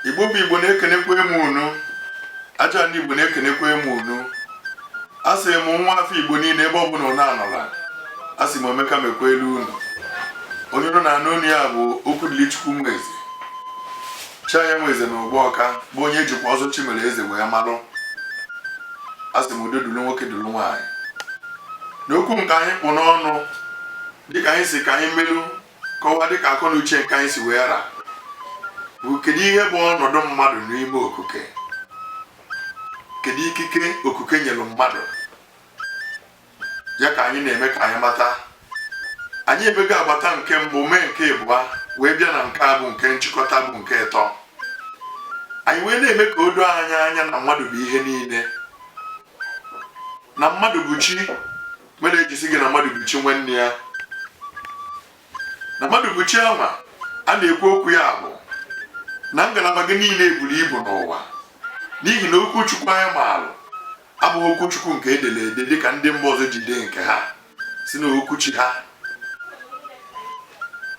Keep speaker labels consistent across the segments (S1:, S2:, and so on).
S1: igbo bụ igbo na-ekenekwa mụ unu aja ndị igbo na-ekenekwa mụ unu a sị m nwa afọ igbo niile ebe ọ bụla unu anọla a sị m omeka mekwa elu unu onye unu na-anụ onu ya bụ okwudilichukwu nweze chaya nweze na ụgbọ ọka bụ onye e jikwa ọzọ chimereze wee malụ a sị m udo dulu nwoke dulu nwaanyị n'okwu nke anyị kpụ n'ọnụ dịka anyị sị ka anyị welu kọwaa dịka akọ na uche nke anyị si wee ra bụ kedu ihe bụ ọnọdụ mmadụ n'ime okike kedu ikike okike nyere mmadụ ya ka anyị na-eme ka anyị mata anyị emego agbata nke mbụ mee nke ịbụa wee bịa na nke a bụ nke nchịkọta bụ nke ịtọ anyị wee na-eme ka o doo anyị anya na mmadụ bụ ihe niile na mmadụ bụ chi mere e ji sị gị na mmadụ bụ chi nwanne ya na mmadụ bụ chi anwa a na-ekwu okwu ya bụ na ngalaba gị niile eburu ibu n'ụwa n'ihi na okwu chukwu anyị maalụ abụghị okwu chukwu nke e dere ede dịka ndị mba ọzọ ji dee nke ha sị na okwu chi ha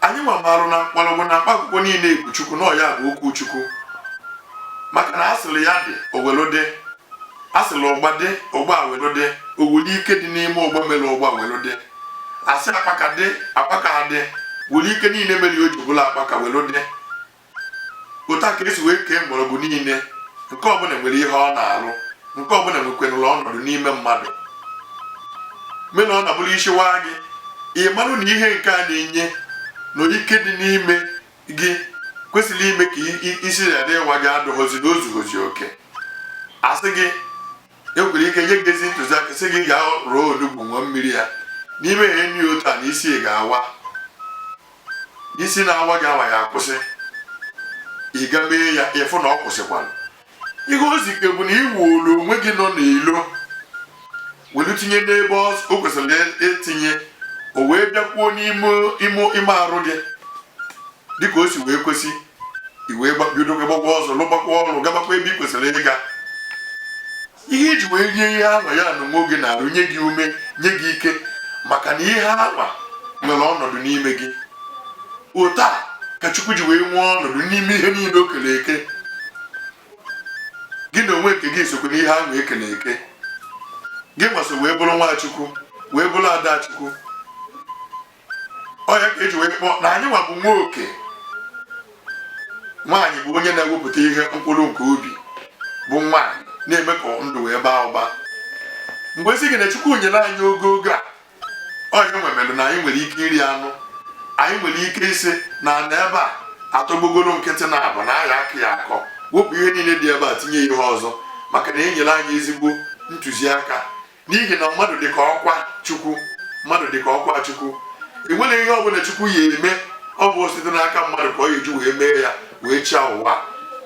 S1: anyị nwa marụ na mkpọrọgwụ na mkpa akwụkwọ niile bụ chukwu na ọ ya bụ okwu chukwu maka na a sịrị ya dị o welu dị a sịrị ụgba dị ụgba ewelu dị o wuli ike dị n'ime ụgba mere ụgba welu dị a sị akpaka dị akpaka adị wuli ike niile mere o ji bụlụ akpaka welu dị otu a ka e si wee kee mgbọrọgwụ niile nke ọbụla nwere ihe ọ na-alụ nke ọbụla nwekwenụrụ ọnọdụ n'ime mmadụ mee na ọ na-abụrụ isi waa gị ị marụ na ihe nke a na-enye na ike dị n'ime gị kwesịrị ime ka isi ghara ịwa gị adịghọzi na o zughọzi oke a sị gị e nwere ike nye gị ezi ntụziaka sị gị gaa rụọ onugbu ṅụọ mmiri ya na i mee ihe nị otu a na isi ga-awa isi na-awa gị awa ya akwụsị ị ga mee ya ị fụ na ọ kwụsịkwara ihe o zike bụ na i wuolu onwe gị nọ n'ilo welu tinye n'ebe o kwesịrị etinye o wee bịakwuo n'ime arụ gị dịka o si wee kwesị i wee bido gbakwa ọzọ lụgbakwa ọrụ gabakwa ebe ị kwesịrị ịga ihe i ji wee rie ihe ahụ ya na onwe gị na-arụ nye gị ume nye gị ike maka na ihe ahụ nwere ọnọdụ n'ime gị otu a ka chukwu ji wee nwee ọnọdụ n'ime ihe niile o kere eke gị na onwe nke gị sokwa n'ihe ahụ e kere eke gị nwa si wee bụrụ nwa chukwu wee bụrụ ada chukwu ọya ka eji wee kpọọ na anyị nwa bụ nwoke nwaanyị bụ onye na-ewepụta ihe mkpụrụ nke obi bụ nwaanyị na-eme ka ndụ wee baa ụba mgbe sị gị na chukwu nyere anyị ogogo a ọ ya nwa mere na anyị nwere ike iri anụ anyị nwere ike ịsị na na ebe a atọgbọgoro nkịtị na abụ na a ya akọ ya akọ wepụ ihe niile dị ebe a tinye ihe ọzọ maka na enyere anyị ezigbo ntụziaka n'ihi na mmadụ dị ka ọkwa chukwu mmadụ dị ka ọkwa chukwu enwere ihe ọ bụla chukwu ya eme ọ bụ site n'aka mmadụ ka ọ ya eji wee mee ya wee chịa ụwa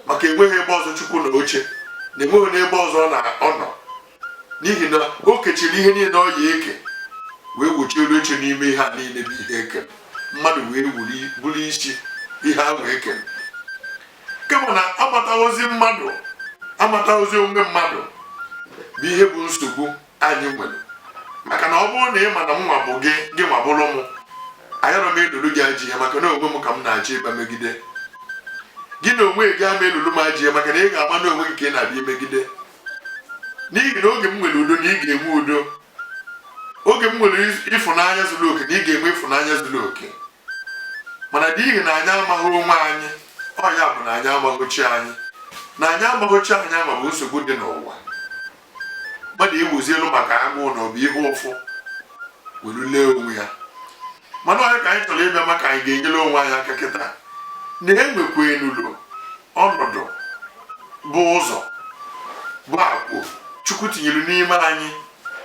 S1: maka enweghị ebe ọzọ chukwu na oche na enweghị n'ebe ọzọ ọ nọ n'ihi na o kechiri ihe niile ọ ya eke wee gbochie elu oche n'ime ihe a niile bụ ihe ekere mmadụ wee bụrụ isi ihe ahụ ekere kama na amataghọzi mmadụ amataghọzi onwe mmadụ bụ ihe bụ nsogbu anyị nwere maka na ọ bụrụ na ị ma na m nwa bụ gị gị nwa bụrụ m ayarọ m elolu gị ajọ ihe maka na onwe m ka m na-achọ ịba megide gị na onwe gị ama elolu m ajọ ihe maka na ị ga-ama na onwe gị ka ị na-abịa imegide n'ihi na oge m nwere udo na ị ga-enwe udo oge m nwere ịfụnanya zuru oke na ị ga-enwe ịfụnanya zuru oke mana n'ihi na anyị amaghị onwe anyị ọ ya bụ na anyị amaghị chi anyị na anyị amaghị chi anyị ama bụ nsogbu dị n'ụwa mmadụ iwuzi elu maka agụụ na ọbụ ihe ụfụ were lee onwe ya mana ọ ya ka anyị chọrọ ịbịa ma ka anyị ga-enyere onwe anyị aka kịta na enwekwenụlụ ọnọdụ bụ ụzọ bụ agwụ chukwu tinyere n'ime anyị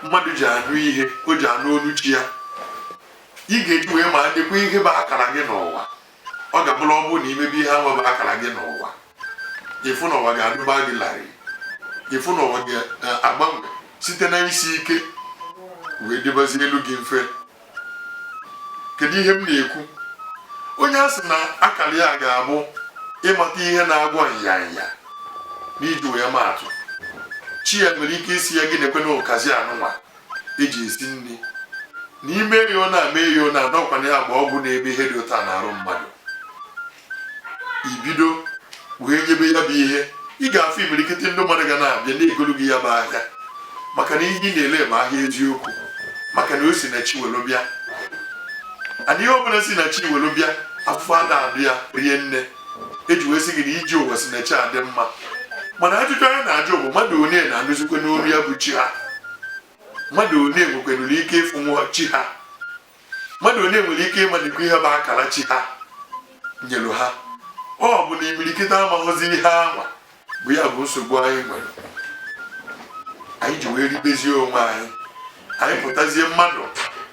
S1: mmadụ ji anụ ihe o ji anụ olu chi ya ị ga-eji wee malikwa ihe bụ akara gị n'ụwa ọ ga-abụrụ ọ bụrụ na imebe ihe ahụ bụ akara gị n'ụwa ịfụ na ụwa ga-adụba gị larịị ịfụ na ụwa ga-agbanwe site na isi ike wee dịbazielu gị mfe kedu ihe m na-ekwu onye a sị na akara ya ga-abụ ịmata ihe na-agwọ nyanya n'iji wee maatụ chi ya nwere ike ịsị ya gị nekwenụ ụkazi anụnwa eji esi nri na i mee ya ọnwa mee ya ọnwa ọkwa na ya agba ọgwụ na-eme ihe dị otu a na arụ mmadụ i bido wee nyebe ya bụ ihe ị ga-afụ imirikiti ndị mmadụ ga na-abịa na-egolu gị ya bụ ahịa maka na ihe ị na-ele bụ ahịa eziokwu maka na o si na chi welu bịa ana ihe ọbụla si na chi welu bịa afụfụ ada adụ ya rie nne eji wee sị gị na ije ụwa si na chi adị mma mana ajụjụ anyị na-ajụ bụ mmadụ one na-anụzikwanụ olu ya bụ chi ha mmadụ one nwekwenụrụ ike ịfụnwu chi ha mmadụ one nwere ike ịmalikwa ihe bụ akara chi ha nyere ha ọ bụ na imirikiti amaghọzi ihe anwa bụ ya bụ nsogbu anyị nwere anyị ji wee ribezie onwe anyị anyị pụtazie mmadụ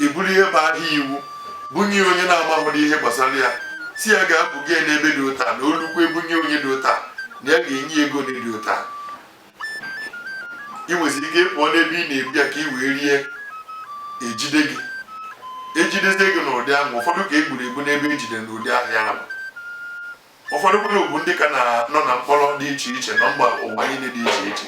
S1: eburu ihe bụ ahịa iwu bunye onye na-amaghịrị ihe gbasara ya sị ya gaa buga ya n'ebe dị otu a na o lukwe ebunye onye dị otu a na ya ga-enye ego dị otu a ị nweziri ike ịpụọ n'ebe ị na-ebu ya ka ị wee rie ejide gị ejidezie gị n'ụdị ahụ ụfọdụ ka e gburu egbu n'ebe ejide n'ụdị ahịa ahụ ụfọdụ kwuru bụ ndị ka nọ na mkpọrọ dị iche iche na mba ụwa niile dị iche iche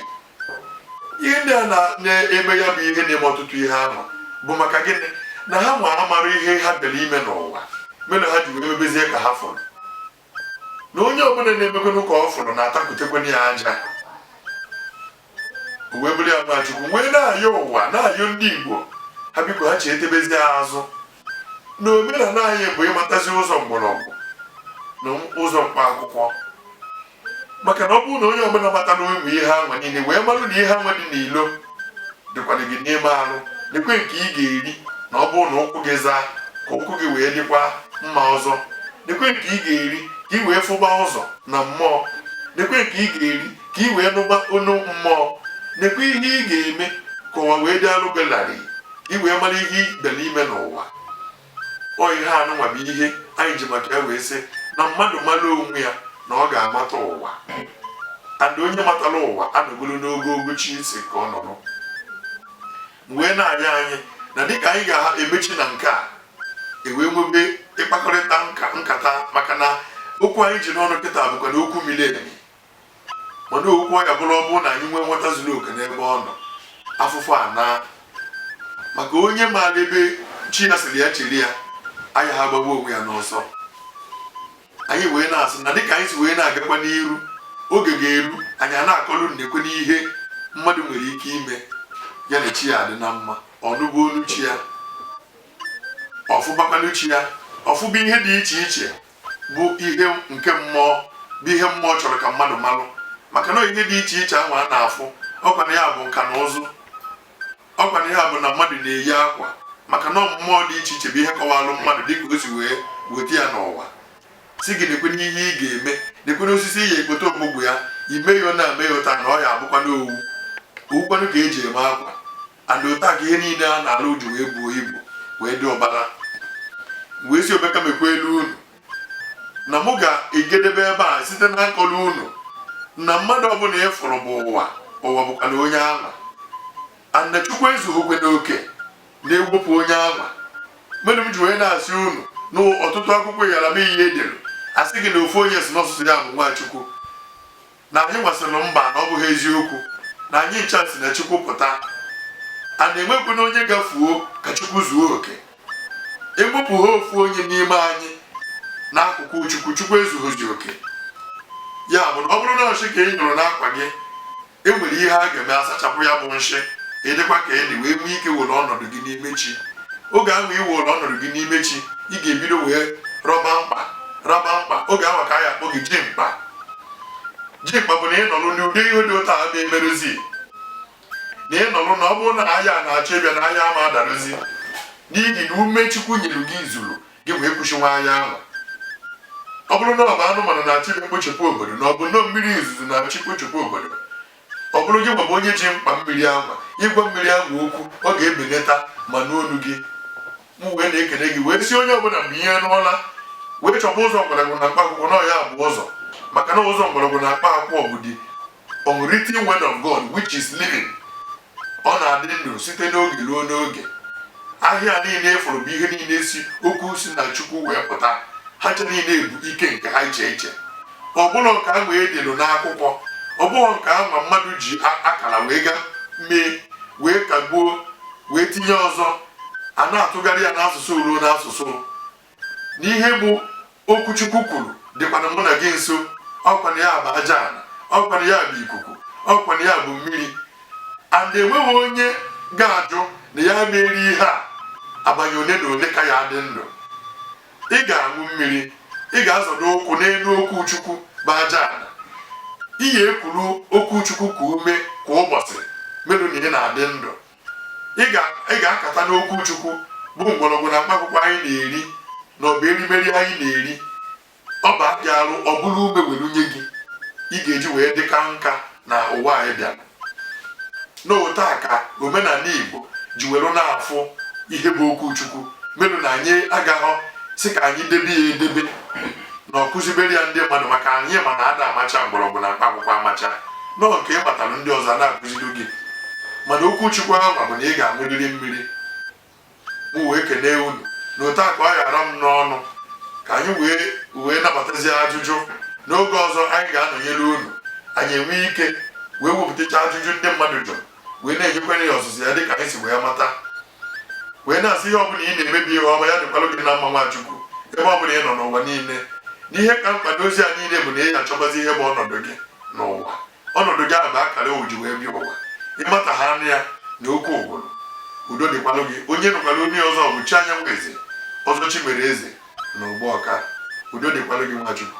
S1: ihe ndị a na-eme ya bụ ihe na-eme ọtụtụ ihe ahụ bụ maka gịnị na ha nwa amarọ ihe ha bịara ime n'ụwa mere ha ji wee mebezie ka ha fụrụ na onye ọbụla na-emekwanụ ka ọ fụrụ na-atakwutekwana ya aja o wee bụrụ ya Nwachukwu wee na-ayọ ụwa na-ayọ ndị Igbo ha biko ha chetebezie azụ na omenala anyị bụ ịmatazi ụzọ mgbọrọgwụ na ụzọ mkpa akwụkwọ maka na ọ bụrụ na onye ọbụla mata na ụmụ ihe anwa niile wee marụ na ihe anwa dị n'ilo dịkwana gị n'ime arụ nekwe nke ị ga-eri na ọ bụrụ na ụkwụ gị zaa ka ụkwụ gị wee dịkwa mma ọzọ nekwe nke ị ga-eri ka ị wee fụba ụzọ na mmụọ nekwe nke ị ga-eri ka ị wee nụba onu mmụọ nekwa ihe ị ga-eme ka ụwa wee dịalụ gị larịị ka ị wee mara ihe ị bịara ime n'ụwa ọ ihe anụnwa bụ ihe anyị ji maka ya wee sị na mmadụ mara onwe ya na ọ ga-amata ụwa and onye matara ụwa anọgoro n'ogogo chi ya sị ka ọ nọrọ wee na-anya anyị na dịka anyị ga-emechi na nke a ewee nwebe mkpakọrịta nkata maka na okwu anyị ji n'ọnụ kịta bụkwa na okwu miri emi mana okwu ọ ya bụrụ ọ bụrụ na anyị nwee nghọta zuru oke n'ebe ọ nọ afụfụ anaa maka onye maara ebe chi ya sịrị ya chere ya ayaha agbagbu onwe ya n'ọsọ anyị wee na-asị na dịka anyị si wee na-agakwa n'iru oge ga-eru anyị a na-akọlụ unu nekwene ihe mmadụ nwere ike ime ya na chi ya adị na mma ọ nụba onu chi ya ọ fụbakwanụ chi ya ọ fụba ihe dị iche iche bụ ihe nke mmụọ bụ ihe mmụọ chọrọ ka mmadụ malụ maka na ihe dị iche iche ahụ a na-afụ ọkwa na ya bụ nka na ụzụ ọkwa na ya bụ na mmadụ na-eyi akwa maka na mmụọ dị iche iche bụ ihe kọwalụ mmadụ dịka o si wee weta ya n'ụwa sị gị nekwene ihe ị ga-eme nekwenụ osisi ị ya-ekpote ogbugbo ya i mee ya otu a mee ya otu a na ọ ya abụkwana owu owukwanụ ka eji eme akwa and otu a ka ihe niile a na-alụ ji wee buo ibu wee dị ụbara wee si obeka mekwa elu unu na mụ ga-egedebe ebe a site na ịkọlụ unu na mmadụ ọbụla ị fụrụ bụ ụwa ụwa bụkwa na onye ahụ and Chukwu ezughịkwe n'oke na ewepụ onye ahụ mere m ji wee na-asị unu na ọtụtụ akwụkwọ yara m ihe edere asị gị na ofu onye si n'ọsụsụ ya bụ Nwachukwu na anyị wee sịnụ mba na ọ bụghị eziokwu na anyị ncha si na Chukwu pụta a na-enwekwu na onye ga-efuo ka Chukwu zuo oke ewepụ ha ofu onye n'ime anyị n'akụkụ Chukwu Chukwu ezughọzi oke ya bụ na ọ bụrụ na nshị ka ị nyụrụ n'akwa gị e nwere ihe a ga-eme asachapụ ya bụ nshị ị dịkwa clean ị wee nwee ike were ọnọdụ gị n'ime chi oge ahụ ị were ọnọdụ gị n'ime chi ị ga-ebido wee rọba mkpa oge ahụ ka a ya-akpọ gị ji mkpa ji mkpa bụ na ị nọrụ n'ụdị ihe dị otu a ama emerụzi na ị nọrụ na ọ bụrụ na agha na-achọ ịbịa na agha ama adarụzi n'ihi na ume chukwu nyere gị zuru gị wee kwụsị nwa agha ahụ ọ bụrụ na ọ bụ anụmanụ na-achọ ịbịa kpochapụ obodo na ọ bụ nnọọ mmiri ozuzo na-achọ ikpochapụ obodo ọ bụrụ gịnwa bụ onye ji mkpa mmiri ahụ ị gwa mmiri ahụ okwu ọ ga-ebelata ma nụ olu gị m wee na-ekele gị wee sị onye ọbụla mgbe ihe n'ụla wee chọba ụzọ mgbọrọgwụ na mkpa akwụkwọ na ọ ya bụ ụzọ maka na ụzọ mgbọrọgwụ na mkpa akwụkwọ bụ the unwritten word of God which is living ọ na-adị ndụ site n'oge ruo n'oge ahịhịa niile furu bụ ihe niile si okwu si na Chukwu wee pụta ha cha niile ebu ike nke ha iche iche ọ bụrọ nke ahụ e delu n'akwụkwọ ọ bụghị nke ahụ ma mmadụ ji akara wee ga mee wee kagbuo wee tinye ọzọ a na-atụgharị ya n'asụsụ ruo n'asụsụ na ihe bụ okwu Chukwu kwuru dịkwana mụ na gị nso ọkwana ya bụ aja ala ọkwana ya bụ ikuku ọkwana ya bụ mmiri and enweghị onye ga-ajụ na ya ma eri ihe a abanị ole na ole ka ya dị ndụ ị ga-aṅụ mmiri ị ga-azọdo ụkwụ n'elu okwu chukwu bụ aja ala ị ga-ekuru okwu chukwu ka ume kwa ụbọchị merụ na ị na-adị ndụ ị ga-akata n'okwu chukwu bụ mgbọrọgwụ na mkpaakwụkwọ anyị na-eri na ọ bụ erimeri anyị na-eri ọ baa gị arụ ọ bụrụ ume were nye gị ị ga-eji wee dị kaa nka na ụwa anyị bịara n'otu a ka omenala Igbo ji were na-afụ ihe bụ okwu Chukwu merụ na anyị agaghọ sị ka anyị debe ya edebe na ọ kụzibere ya ndị mmadụ maka anyị ma na ada amacha mgbọrọgwụ na mkpa akwụkwọ amacha na ọ nke ị matara ndị ọzọ na-akụziri gị mana okwu Chukwu ahụ bụ na ị ga-aṅụrịrị mmiri m wee kelee unu na otu a ka ọ ya-ara m n'ọnụ ka anyị wee nabatazie ajụjụ n'oge ọzọ anyị ga-anọnyere unu anyị enwee ike wee wepụtacha ajụjụ ndị mmadụ jụrụ wee na-enyekwere ya ọzịza ya dịka anyị si wee mata wee na-asị ihe ọbụla ị na-eme bụ ihe ọma ya dịkwalụ gị na mma nwa Chukwu ebe ọbụla ị nọ n'ụwa niile na ihe ka mkpa n'ozi a niile bụ na ị ya-achọbazi ihe bụ ọnọdụ gị n'ụwa ọnọdụ gị a na akara o ji wee bịa ụwa ịmata ha anụ ya na oke ụgwụrụ udo dịkwalụ gị onye nụkwara onye ọzọ bụ chi anyanwụ eze ọzọ chimereeze na ugbawka udo dịkwalụ gị nwachukwu